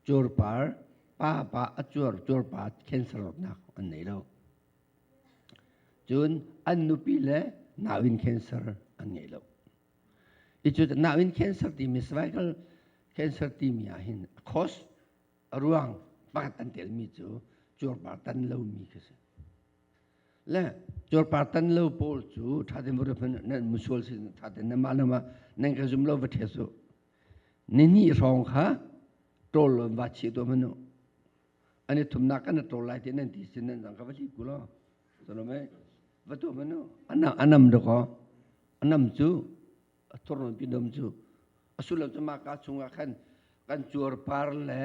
Cuarpar papa a cuar cuarpa cancernak an nei lo. Cun an nupi le nauin cancer an ngei lo. Hi cu nauin cancer timi cervical cancer timi ah hin a cause a ruang pakhat an telmi cu cuarpar tan lomi khi si. Le cuarpar tan lo pawl cu thaten vare hman nan musual sin thaten na mah na mah nan ka zum lo va ṭhe su Ni hnih hrawng kha ṭawl in va chih tuah manu. An i thumnak kan ṭawl lai ti nan ti sin nan zang ka va thli ku lo. Sono mei va tuah manu. Ana anam duk ho. Anam cu a thurnon pinom cu a sullam cu mah ka chungah khan kan cuar par le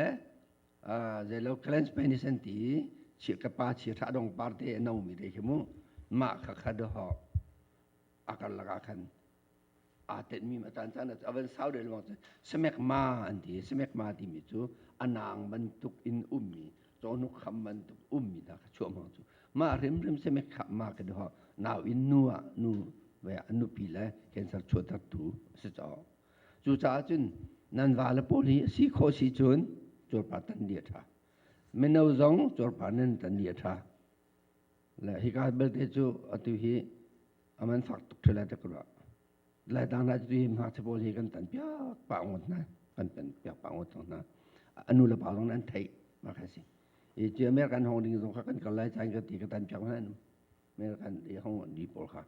zeilo cleanse penis an ti chi ka pa chi ṭha dong par te a nomi te khi mu mah kha kha dahawk a karlak ah khan aa tenhmi a caan caan a van sau deuh lengmang cu semekma an ti semekma timi cu a naang bantuk in ummi cawhnuk kham bantuk ummi hna kha chuahmang cu mah hrimhrim semek kha ma ka dihawk nau in nu ah nu ve a nupi le cancer chuahtertu a si caw cucaah cun nan vale pawl hi si khawh si cun curpa tan dih a ṭha mino zong curpa nan tan dih a ṭha Le hika belte cu atu hi a man fak tuk ṭhe lai ta ka ruah. Laitang hna cu hi hmaichia pawl hi kan tan piak pah ngot hna, kan tan piak pah ngot cang hna. A nu le pa zong an theih, mah kha si. I cu American hong ding zong kha kan kal lai caan ka ti ka tan piak hna anum. American i hong ni pawl kha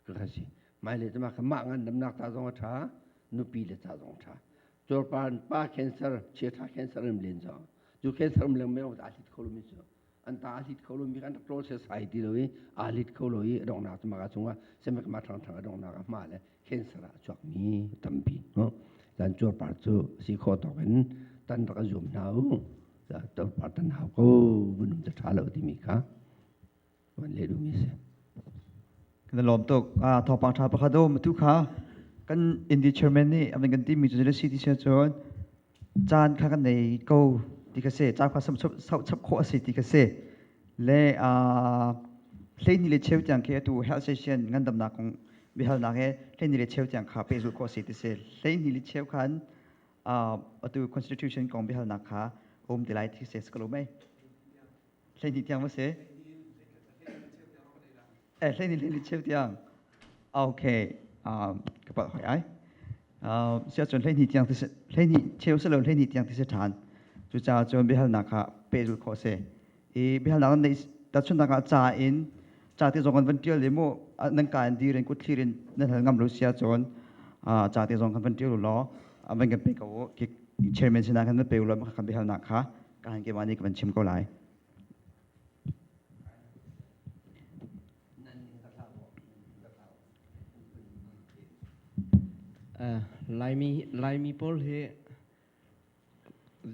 ka kha si. Maile cu mah kha mah ngan damnak ta zong a ṭha, nupi le ca zong a ṭha. Cuarpar pa cancer, chiaṭha cancer in len zong. Cu cancer um leng meo dah hlit kho lomi cu an ta hlit kho lo mi kan rak ṭawl sai ti lo i aa hlit kho lo i donghnak cu maka chungah semek ma ṭhang ṭhang a donghnak a hma le cancer ah a chuak mi tampi no zan cuarpar cu si kho tawk in tan rak a zum hna u cuarpar tan hau ko vunum ca ṭha lo timi kha van le du mi si kan lawm tuk thawpang ṭha pakhat u matu kha kan indi chairman nih amai kan timi cu le city cun caan kha kan nei ko ti ka si caan kha sau chap khawh a si ti ka si le hleini le cheu tiang khi atu health session ngandamnak kong bihalnak he hleini le cheu tiang kha pehzul khawh si ti si hleini le cheu khan atu constitution kong bihalnak kha um ti lai ti si ka lo mei hleihnih tiang va si eh hleihnih hleihnih cheu tiang ok um, ka pat hoi ai um, si ahcun hleihnih tiang ti hleihnih cheu si lo hleihnih tiang ti si ṭhan cucaah cun biahalnak kha pehzul khawh si i biahalnak nan neih tahchunnak ah ca in ca te zong kan van ṭial i mu nan ka in dir in kut thlir in nan hal ngam lo si ahcun ca te zong kan van ṭial u law van kan pe ko u chairman sinah kan van pe u law kan biahalnak kha Kain keimah nih ka van chim ko lai. Uh, Laimi Laimi pawl hi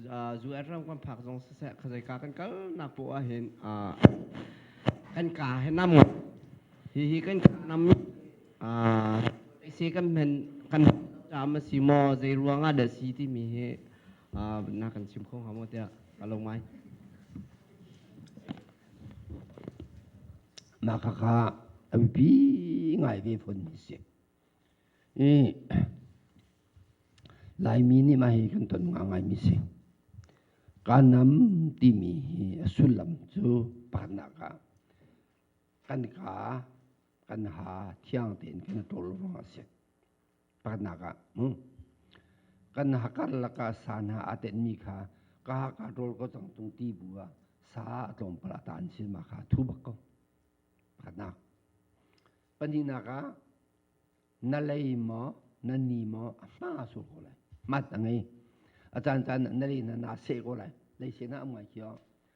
uh, zu er ram kan phak zong se khazai ka kan kal na po a hin uh, kan ka he nam hi hi kan nam uh, se kan men kan jam si mo zai ruanga da si ti mi hi na kan chim kho hnga maw tiah ka lo ngai naka kha a bipi ngai ve fonmi si i laimi nih mah hi kan ton nga ngaimi si kanam timi hi a sullam cu parnak ah kan ka kan ha thiang tein kan i ṭol ruang a si pakhatnak ah kan hakar lakah sa hna aa tenmi kha ka hakar rawl ko cang tung ti bu ah sa a tlawmpal ah ta an sil ma kha thu bak ko pakhatnak pahnihnak ah na lei maw na ni maw a hma sur ko lai mat a ngei a caan caan na le hna naa seh ko lai lei seh na am ngai kio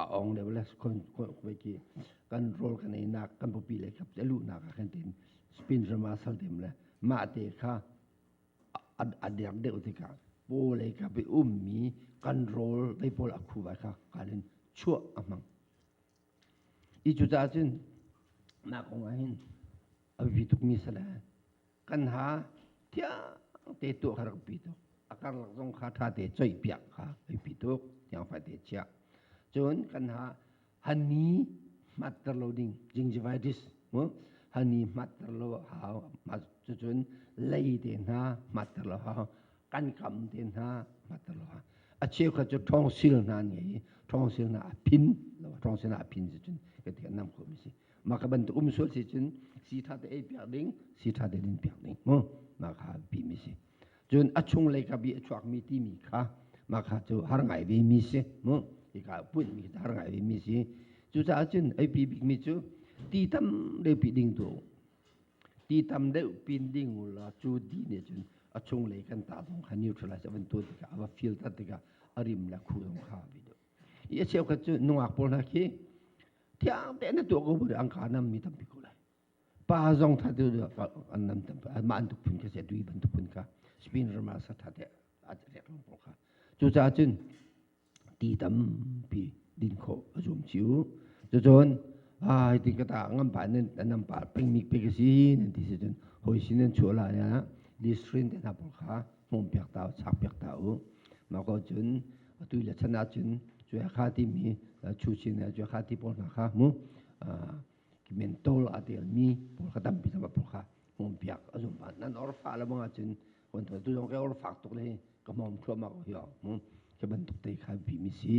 a ong le le ki kan rol kan ei nak kan pupi le khap te lu nak a khen tin spin rama sal dem le ma te kha a dek deuh ti ka po le ka bi um mi kan rol dei pol a khu vai kha kalin chua a mang i cu ta cun na kong ah hin a vi tuk mi sala kan ha thiang te tuah kha rak pi tuk a karlak zong kha ṭha te choih piak kha ai pi tuk tiang fai te chiah cun kan ha hani matter lo ding gingivitis mu hani matter lo hau cucun lei te hna matter lo hau kan kam te hna matter lo hau a cheu kha cu ṭhawngsil hna an ngei i ṭhawngsil hna a phin lo ṭhawngsil hna a phin cu cun ka ti nam khomi si Maka bantuk um sual si cun si tha te ei piak ding, si tha te din piak ding mu. Maka pi mi si. Cun a chung lei ka bi a chuak mi ti mi kha maka cu har ngai ve mi si mu. Ika punh mi har ngai ve mi si. Cucaah cun ei pi bik mi cu ti tam deu pi ding tu ti tam deuh pin ding la cu di ne cun a chung lei kan ta dong kha neutralize avan tu tika ava feel tat tika a rim la khu dong kha bi do i a cheu khat cu nungak pol hna khi Thiang tein na tuah ko bu angka nam mi tampi ko lai. Pa zong that tu an nam tampi mah an tuk phun ka se dui ban tuk phun ka spin rama sa that te a rek long po kha cu cha cun ti tampi din kho azum chiu cu chon ai tin kata ngam pa nan nam pa ping mi pe ka si nan ti se cun hoi sin nan chua la ya li screen te na po kha hmawmpiak ta sakpiak ta u mako cun atu le chan ah cun cuya kha ti mi chu sin le cuya kha ti pawl hna kha mu mentol a tel mi pawl kha tampi sama pawl kha hmawmpiak a zum ba nan or fa la bang cun wan tu zong ke or fak tuk le ka mom khlo ma ko yo mu ke ban tuk te kha bi mi si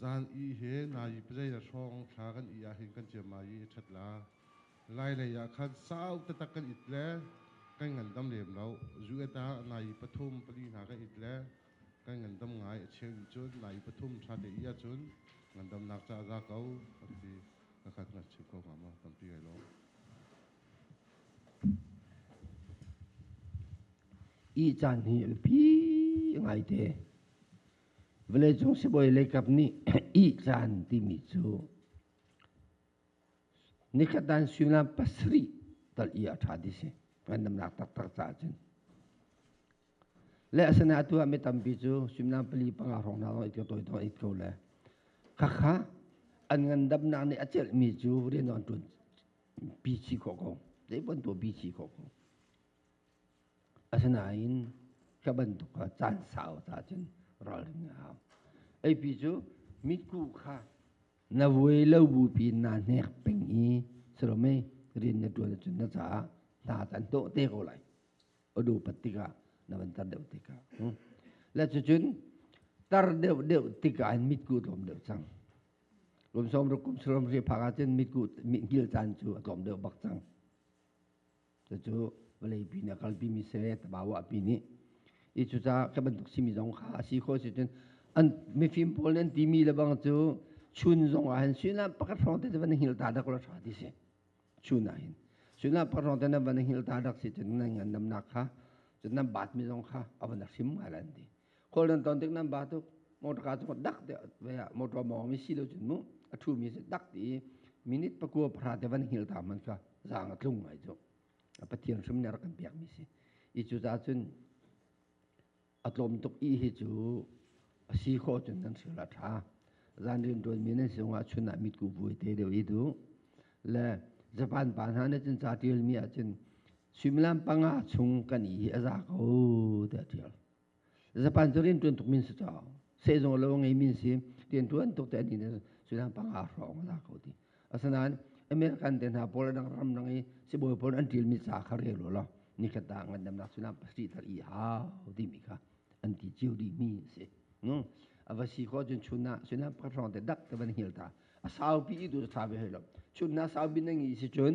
Zan i hi nai pazei le hrawng thla kan i ah hin kan ciam ma i ṭhat la. Lailei ah khan sau taktak kan it le kan ngandam lem lo. Zuet ah nai pathum pali hna kan it le kan ngandam ngai a cheu nih cun nai pathum ṭhate i ahcun ngandamnak ca a za ko an ti. Ka khat ngakchia ko hnga maw tampi kai lawm. Ih caan hi a biapi ngaite. Vawleicung sibawi leikap nih ih caan timi cu nikatan suimilam pasarih tal i a ṭha ti si. Ngandamnak taktak caah cun. Le asinain atu ah mi tampi cu suimilam pali panga hrawng hna zong it ko tawi tawng it ko le khakha an ngandamnak nih a celhmi cu rian an ṭuan pi chih khawh ko. Zei bantuk pi chih khawh ko. Asinain ka bantuk kha caan sau ca cun ralrin a hau. Eipi cu mitku kha na vuai lo bupi in naa hnek peng i salomei rian na ṭuan ahcun na caah hna cu an dawh te ko lai. A dupat tikah na van tar deuh tikah. Hm. Le cucun tar deuh deuh tikah in mitku a tlawm deuh cang. Kum sawm ruk kum saram hri phak ahcun mitku mit ngil caan cu a tlawm deuh bak cang. Cucu vawleipi nih a kalpimi sireh tabaawahpi nih i cucaah khi bantuk simi zong kha a si khawh si cun an mifim pawl nih an timi le bang cu chun zong ah hin suinah pakhat hrawng te van hngil ta dak la hra ti si chun ah hin suinah pakhat hrawng te na van hngil ta dak si cun nan ngan namnak kha cun nan baatmi zong kha a van hrim ngai la an ti kol nan ton tik nan ba tuk motor ka cu dak te ve a motor mo mi si lo chun mu a thu mi se dak ti minute pakua phara te van hil ta man sa zang a tlung ai chu a pathian sum ne kan piak mi si i chu za chun a tlom tuk i hi chu a si kho chun nan sila tha zan rin don mi nan sung a chun na mit ku vui te de i du le japan pa na ne chun cha tial mi a chun similam panga chung kan i a za ko te tial Japan cu rian ṭuan tuk min si caw sehzung lo ngei min si rian ṭuan tuk te ni sudan panga hrawng a za ko ti asinain American te hna pawl dang ram dang i sibawi pawl an ṭil mi ca kha rel lo law nikhat da ngandamnak sudan pasarih thar i hau dimi kha an ti cio dimi a si a va si ko cun chun ah sudan pakhat hrawng te dak te van hil ta a saupi i tu ṭha ve hoi lo chun na saupi na ngi si cun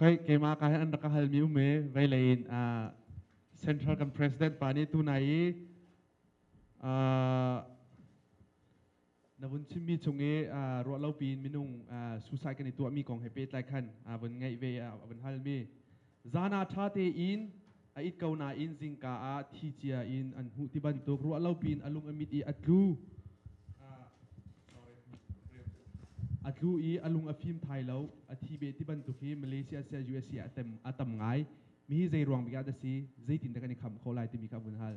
Keimah ka an rak ka halmi um i veilei in Central kan President pa nih tunai i na vun chimmi chung i ruahlopi in minung suicide kan i tuahmi kong he pehtlai khan vun ngaih ve a vun halmi Zan ah ṭha tein a it ko nain zingka ah thi cia in an hmuh ti bantuk ruah lo piin a lung a mit i a tlu. A tlu i a lung a fim thai lo. A thi beh ti bantuk hi Malaysia siah USA siah a tam ngai. Mihi zei ruang bik ah dah si? Zeitin dah kan i kham khawh lai timi kha vun hal.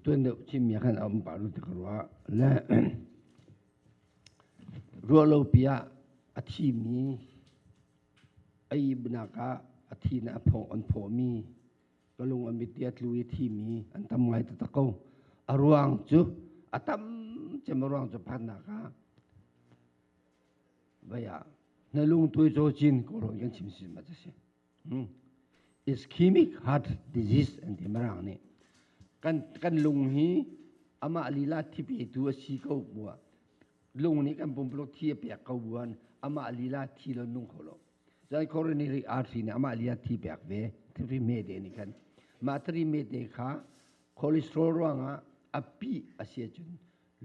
Tuan deuh cimmi ah khan a um pah rua ti ka ruah. Le ruah lopi ah a thimi, a ihnak ah a thin ah an phawmi, ka lung a mit i a tlu i thimi an tam ngai taktak ko. A ruang cu, a tam cem a ruang cu phannak ah, vei ah, na lungtuai cawcin kawlhawi kan chim si ma cu si. ischemic heart disease an ti mirang nih kan kan lung hi amah lila thi petu a si ko bua lung nih kan pumpuluk thi a pek ko buan amah lila thi lo nung kho lo cun coronary artery nih amah lila thi pek ve thiri mete nih kan mah thiri mete kha cholesterol ruangah a pi a si cun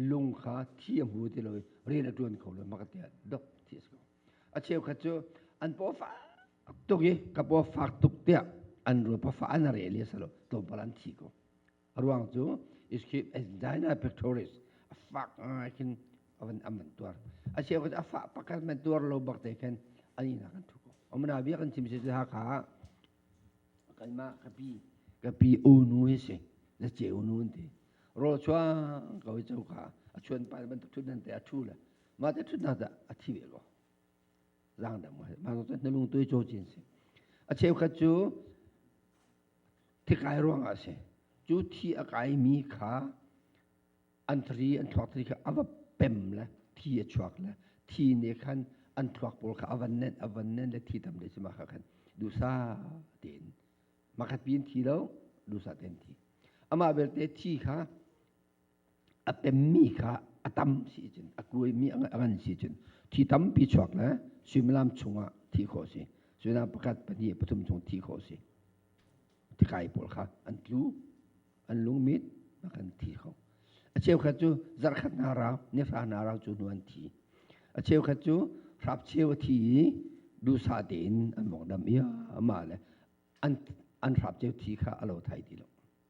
lung kha thi a hmu ti lo rin a tuan kho lo maka tiah dok thi a si ko A cheukhat cu an paw fak tuk i ka paw fak tuk tiah an rul pafa an re le salo tlawmpal an thi ko. A ruang cu is keep as China pictures a fak ngai khin avan an van tuar. A cheukhat a fak pakhat man tuar lo bak te khan an inak an thu ko. Amana bia kan chim si cu hakha kanmah ka pi ka pi unu hi si na ce unu an ti. Rol chuang ko i choka a chuan pa bantuk thut nan te a thu le Mah te thut hna dah a thi ve lo. Zang dang mo he. Mah to na lung tuai cho chin si. A cheukhat cu thikai ruang ah si. Cu thi a kai mi kha an thari an thuak thari kha a va pem le thi a chuak le thi ne khan an thuak pawl kha a van nen a van nen le thi tam le si ma kha khan dusa tein makhat pi in thi lo dusa tein thi amah belte thi kha a pemmi kha a tam sicun a kuaimi a ngan sicun thi tampi chuak le suimilam chungah thi khawh a si suimilam pakhat pahnih pathum chung thi khawh a si tikai pawl kha an tlu an lungmit a kan thi kho a cheukhat cu zarkhat hna rau nihra hna rau cu hnu an thi a cheukhat cu hrap cheu a thi i duhsah tein an mawngdam ia amah le an an hrap cheu thi kha a lo thai ti lo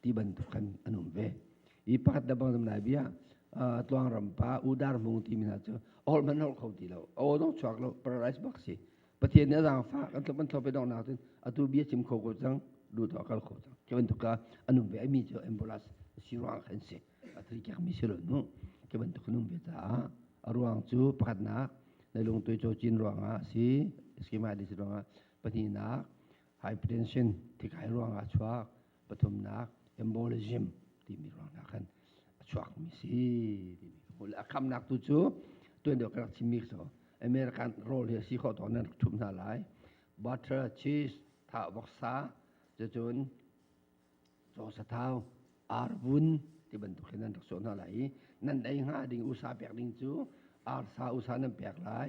ti bantuk khan an um ve i pakhat da bang zam lai bia tluang ram pa udar mung ti mi hna cu ol man hol kho ti lo o dong chuak lo paradise bak si pathian nih azang fa kan tlop an tlop dong nak tin atu bia chim kho ko cang du to kal kho cang ke bantuk ka anum ve mi cu ambulance si ruang khan si atri kyak mi si lo nu ke bantuk num ve ta a ruang cu pakhat nak na lung tu cho chin ruang a si schema di ruang a pati nak hypertension thi kai ruang a chuak pathumnak embolism timi ruang ah khan a chuakmi si timi ka hmuh a khamnak tu cu tuan deuh ka rak chimmi so American role hi a si khawh tawn nan rak ṭhum hna lai butter cheese thah voksa cucun cawsathau arvun ti bantuk hin nan rak sawh hna lai i nan dei hnga ding usa pek ding cu arsa usa nan pek lai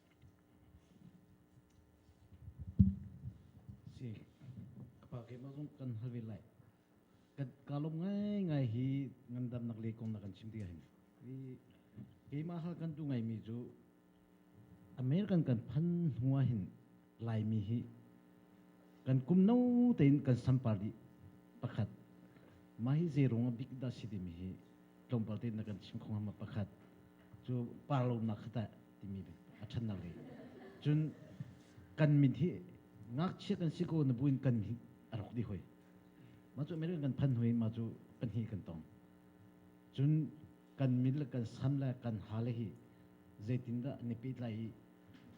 Si. Apa ke ma zong kan hal ve lai. Kan kalom ngai ngai hi ngandam nak le kong na kan chim tiga hin. I keima hal kan tu ngai mi ju American kan pan hua hin lai mi hi kan kum no tein kan sampali pakhat ma hi zerung a big da si di mi hi tlawmpal tein na kan chim khong hama pakhat chu parlo na khata timi a ṭhannak ngeih. Cun kan min hi ngakchia kan si ko na buin kan min a rawk dih hoi. Mah cu American kan phan hoi, mah cu pahnih kan tong. Cun kan min le kan san le kan hale hi zeitindah ni pehtlai i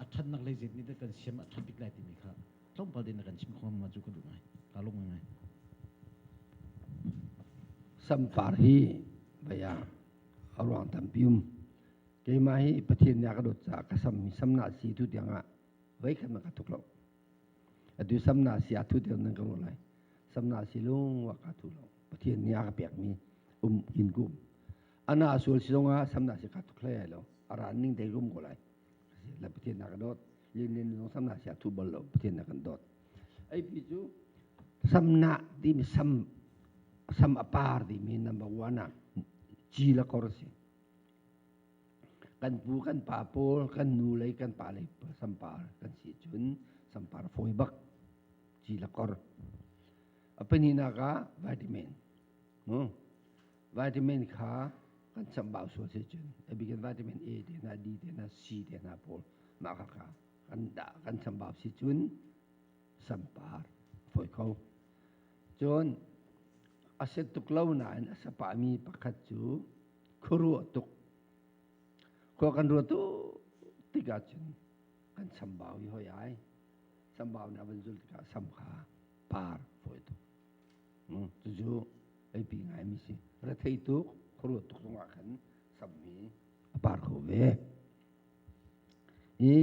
a ṭhannak lei zeinihdah kan siam a ṭha bik lai timi kha tlawmpal tein a kan chim kho ma cu ka duh ngai. Ka lung ngai. Sampar hi baya a ruang tampi um. Keimah hi Pathian nih a ka dawt caah ka sammi samnak si tu tiang ah voikhat man ka tuk lo. Atu samnak si a thu deuh nan ka lo lai. Samnak si lung wa ka thu lo. Pathian nih a ka pekmi um in kum. Ana sual si zong ah samnak si ka tuk hlai lo. Ara ning dei rum ko lai. La Pathian nih a ka dawt. Lin lin zong samnak si a thu bal lo. Pathian nih a kan dawt. Ai pi cu samnak timi sam sam apar timi number one ah ci la kor si. kan pu kan pa pawl kan nu le kan pa le sampar kan si cun sampar fawi bak ci la kor a peninak ah vitamin mu vitamin kha kan chambau sual si cun a bikin vitamin A te na D te na C te na pawl mah kha kha kan da kan chambau si cun sampar fawi kho Cun a si tuk lo nain a sapahmi pakhat cu khuaruah tuk. Khua kan ruat tikah cun kan sambau i hoi ai. Sambau nih a van zul tikah sam kha par fawi tuk. Hmm, cucu eipi ngaimi si. Rethei tuk, khuaruah tuk zongah khan sammi a par kho ve. i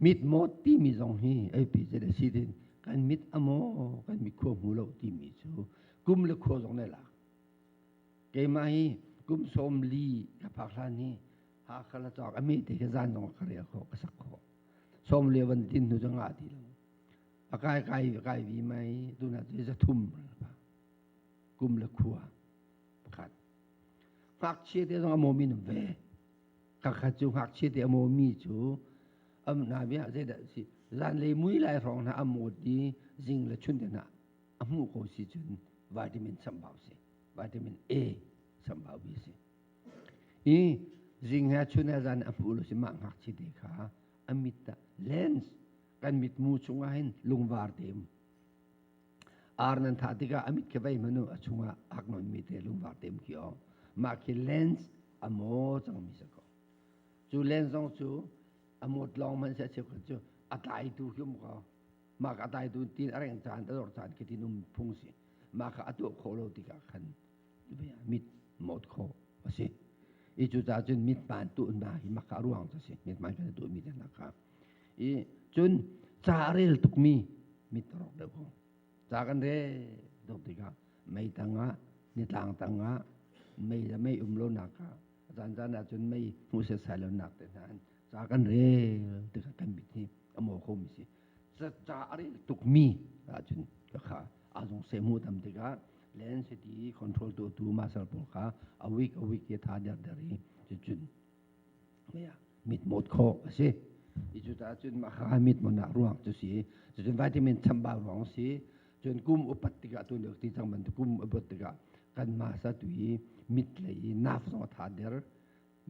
mitmawt timi zong hi APZ a si tin kan mit a maw kan mit khua hmu lo timi cu kum le khua zong na lak keimah hi kum sawm li ka phak hlan hi Hakha la cawk a mete ka zan zong ka ria kho ka sak kho som le van tin nu zang a ti lo a kai kai kai vi mai tu na tu za thum pa kum le khua pakhat ngak chia te zong a mo min ve kakhat cu ngakchia te a mawmi cu am na bia zeidah si zanlei mui lai hrawng hna a mawt i zing le chun den ah a hmuh ko si cun vitamin sambau si vitamin A sambau bi si i zing he chun he zan a hmuh lo si mah ngakchia te kha a mit ta lens kan mit mu chungah hin lungvar te Ar nan thah tikah a mit kha vei hmanu a chungah a hak nawnmi te lungvar tem ki aw. Mah khi lens a maw cangmi sa ko. Cu lens zong cu a mawt lawng man se a cheu cu a tlaitu khi um ko. Mah ka tlaitu tin a reng caan ta dor caan khi tin um phung si. Mah ka a tuah khawh lo tikah khan mit mawt khawh a si. I cu ca cun mit hmaan tu na hi maka ruang ca si. Mit hmaan kan tuahmi te nakah. i cun ca a rel tukmi mit a rawk deuh ko ca kan rel deuh tikah mei tangah nitlang tangah mei le mei um lonak kha zanzan ah cun mei hmuh setsai lonak te hna in ca kan rel tikah kan mit hi a mawh khomi si ca a rel tukmi ahcun kha azung se mu tam tikah len siti control tu tu masal pawl kha a week a week ke tha der der i cucun mit mawt khawh a si i cucaah cun mah kha mit mawnak ruang cu si cucun vitamin chambau ruang si cun kum upat tikah tun ti cang bantuk kum upat tikah kan masa tu i mit lei i naf zong tha der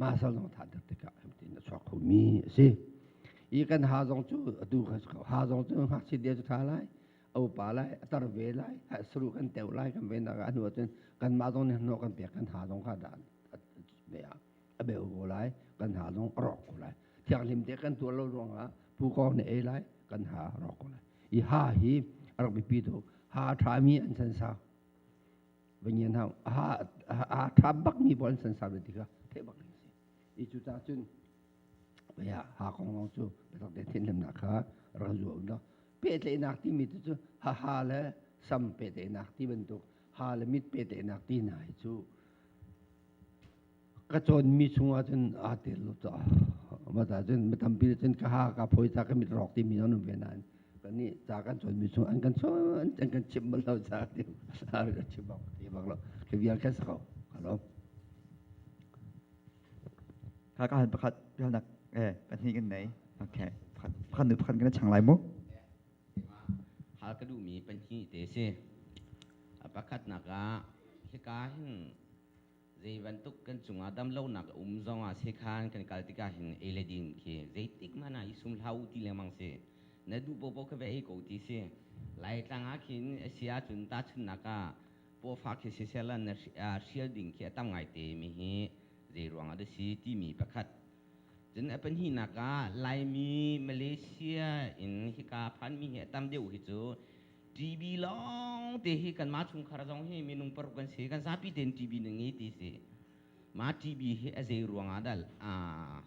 masa zong tha der tikah hemtin a chuak khomi a si i kan ha zong cu atu ha zong cu ngakchia dia cu tha lai au pa lai a tar ve lai ha sru kan teu lai kan ve nak ah hnu cun kan ma zong nih no kan pek kan ha zong kha da ve a a beu ko lai kan ha zong a rawk ko lai thianghlim te kan tuar lo ruangah pu kong ne ei lai kan ha rawk ko lai i ha hi a rak bipi tu ha ṭhami an san sa vanian hau ha ha ṭha bakmi bo an san sa ve tikha theih bak ni si i cu ta cun ya ha kong long cu biatak te thin lemnak kha rak zuwa un lo pehtlenak timi tu cu ha ha le sam pehtlenak ti bantuk ha le mit pehtlenak ti nai cu ka cawnmi chungah cun aa tel lo caah mata cun mi tampi nih cun ka ha ka phawi ca ka mit rawk timi nan um ve nain kannih ca kan cawnmi chung an kan cawn an kan chimh bal lo ca ti a chim bak ti bak lo ka vial kan sa ko halo ka ka han pakhat vial nak eh pahnih kan nei okay pakhat pakhat nu pakhat kan chang lai mu hal ka duhmi pahnih te si. Pakhatnak ah hika hin zei bantuk kan cungah damlonak a um zongah sekhan kan kal tikah hin ei le din khi zeitik mana i sum hlah u ti lengmang si na duh popo ka ve ei ko ti si lai tlang ah khin asi ahcun tahchunnak ah pofa khi sisela na hrial ding khi a tam ngai te mi hi zei ruang ah dah si timi pakhat Cun a pahnihnak ah Laimi Malaysia in hika phanmi hi a tam deuh hi cu TV lawng te hi kanmah chungkhar zong hi minung paruk kan si kan zapi tein TV na ngei ti si mah TV hi a zei ruangah dah aa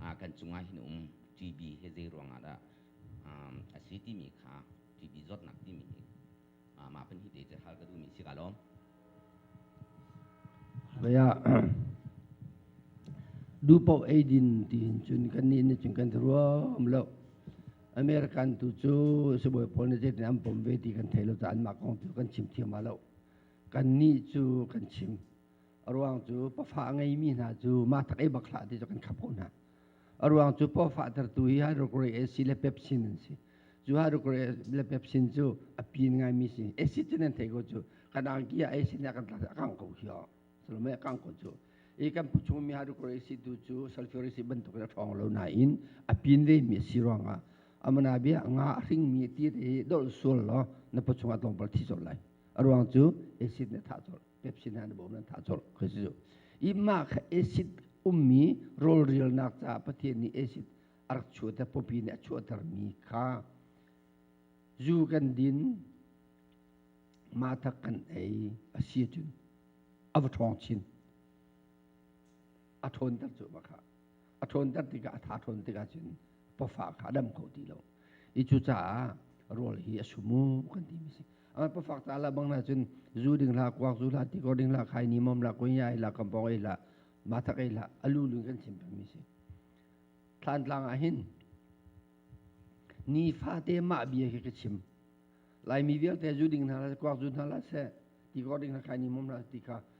ah kan cungah hin um TV hi zei ruangah dah um a si timi kha TV zawtnak timi hi mah pan hi te te hal ka duhmi si ka lawm naya du po eidin tin chun kan ni ne chun kan thruo um lo american tu chu sebuai pol ne je nam pom ve ti kan thelo ta an ma kong tu kan chim thiam lo kan ni chu kan chim ruang chu pafa ngei mi hna chu ma tak ei bakla ti chu kan khap ko hna A ruang cu paw fahtertu hi hydrochloric acid le pepsin an si. Cu hydrochloric le pepsin cu a pin ngaimi si. Acid cu nan thei ko cu. Kan angki ah acid nih a kan tlak a kangh ko hiyo. Salome a kangh ko cu. I kan phu chungmi hydrochloric acid tu cu sulfuric acid bantuk in a ṭhawng lo nain a pin vemi a si ruangah a mana bia nga a hringmi tir hi dolh sual law na phu chungah tlawmpal thi colh lai. A ruang cu acid nih a thah colh. Pepsi na na bawm nan tha chor khoi si i ma kha acid ummi rolrialnak ca Pathian nih acid a rak chuah te popi nih a chuahter mi kha zu kan din matha kan ei a si cun a va ṭhawng chin a ṭhawnter cu ma kha a ṭhawnter tikah a ṭha ṭhawn tikah cun pafa kha a dam kho ti lo i cucaah rawl hi a sumu kan ti mi si a pafak ta la bang na cun zu ding la kuak zu la ti ko ding la khai ni mom la ko ya la kam pok ei la ma thak ei la alu lu kan chim peng mi si thlan tlang ah hin ni fate ma bia khi ka chim lai mi vialte zu ding hna la kuak zu hna la se ti ko ding la khai ni mom la ti ka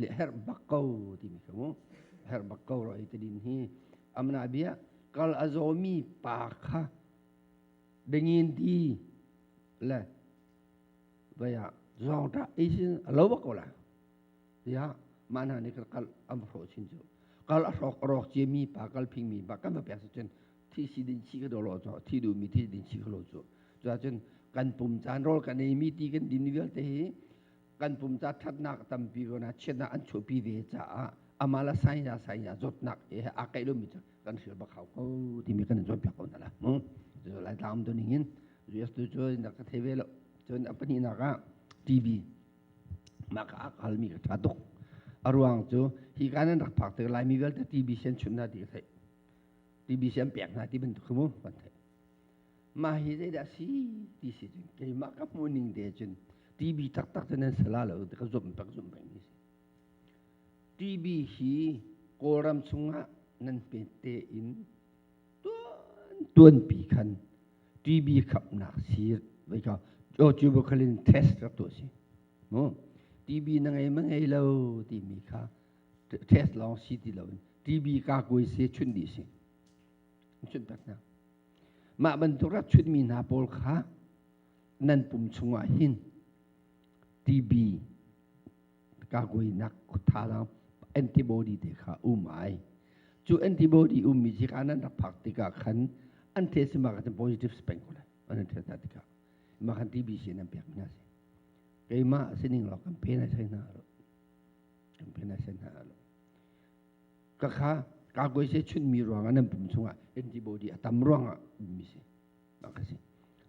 le herh bak ko timi ka mu herh bak ko ro hi tadin hi amna bia kal azomi pa kha dengin di le vaya zongta isin lo bak ko la ya mana ni kal am ro chin chu kal arok rok che mi pa kal phing mi ba kan ba pya chen thi si din chi ka do lo cho thi du mi thi din chi ka lo chu cho chen kan pum chan rol kan nei mi ti kan din vial te hi kan pumca ṭhatnak a tampi ruang ah chiatnak an chuahpi ve caah amah le sainya sainya zawtnak he aa kaih lomi cu kan hlir bak hau ko timi kan in cawnpiak ko hna la mu cu lai tlang tu ning in US tu cu na ka theve lo cun a pahnih nak ah TV mah ka ak halmi ka ṭha tuk a ruang cu hi ka nan rak phak te laimi vialte TV sen chun na ti ka theih TV sen pek na ti bantuk khi mu kan theih mah hi zeidah a si ti si cun keimah ka hmuh ning te cun TV taktak cu nan sala lo ka zumh pek zumh pek ni si TV hi Kawlram chungah nan pe te in tuan pi khan TV khapnak sir vai ka o tuberculin test rak tu si mu TV na ngei ma ngei lo ti mi kha test long si ti lo in TV ka koi se chun di si chun tak na Mah bantuk rachunmi hna pawl kha nan pum chungah hin TB kakuainak khutthalang antibody te kha um ai cu antibody ummi khi ka nan rak phak tikah khan an the si mah kan positive speng ko lai an the hna tikah mah kan TB si nan pek hna si keimah sining lo kan pe na sai hna lo kan pe na sai hna lo ka kha kakuai se chunmi ruangah nan pum chungah antibody a tam ruangah ummi si bak kasi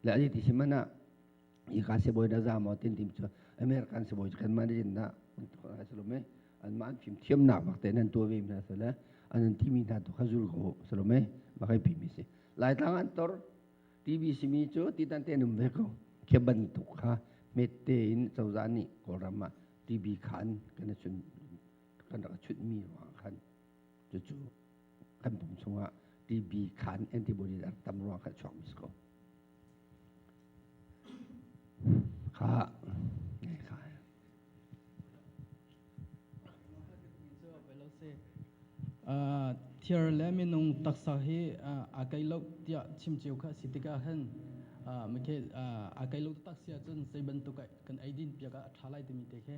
le adi ti simana i ka se boi da za mo tin tim chu american se boi kan man jin na ka se lo me an man phim thiam na bak te nan to ve mi na se le anan ti mi na to kha zul ko se lo me ba kai pimi si lai tlang an tor tv simi chu ti tan te num ve ko ke ban tu kha mette in chawza ni kolrama tv khan kana chun kan rak chunhmi ruang khan cucu kan pum chungah TB khan antibodies ar tam ruang khan chuak mis ko kha thier le minung taksa hi a kailok tiah chimceu kha si tikah khan makhe a kailok taksia cun sei bantuk kan eidin piak a tha lai timi te khe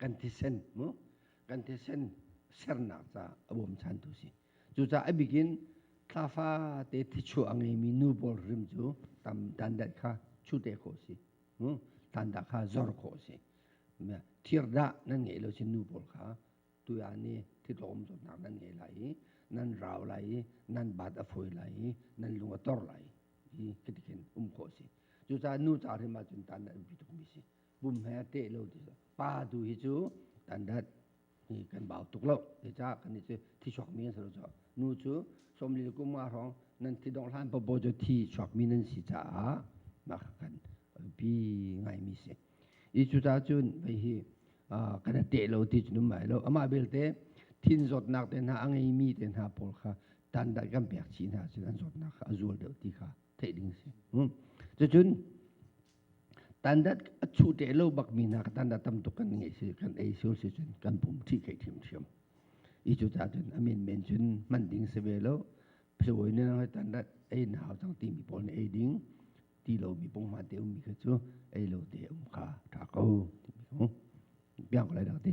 kan thisen mu kan thisen sernak ca a bawm chan tu si cucaah a bikin thlafa te thichu a ngeimi nu bol rim cu tam dandat kha chute khawh si tanda kha zor khawh si thirdah nan ngei lo si nu bol kha tuya ni thitlawm to nak nan ngei lai i nan rau lai i nan bat a foi lai i nan lung a tor lai i kitikin um khawh si cucaah nu ca rim ahcun tan an bi tuk mi si pum he a teh lo pa tu hi cu tandat hi kan bau tuk lo te ca kan ni cu thi chuak mi an si lo ca nu cu somli kum nga hrong nan thi dong hlan popo cu thi chuak mi nan si caah mah kan pi ngai mi si i cu ta cun vei hi kan teh lo ti cunum mai lo amah belte thin zawtnak te hna a ngei mi te hna pawl kha tandat kan pek chi hna cun an zawtnak kha a zual deuh ti kha theih ding si hmm. cucun tandat a chu te lo bak mi na ka tanda tam tuk kan ngai si kan ei sur si cun kan pum thi kai thim thiam i cu ta cun amin men cun man ding se ve lo phawi ne ngai tandat ei nau chang ti mi pol ne ei ding ti lo mi pong ma te um mi kha chu ei lo te um kha tha ko ti mi ko biang ko lai dang te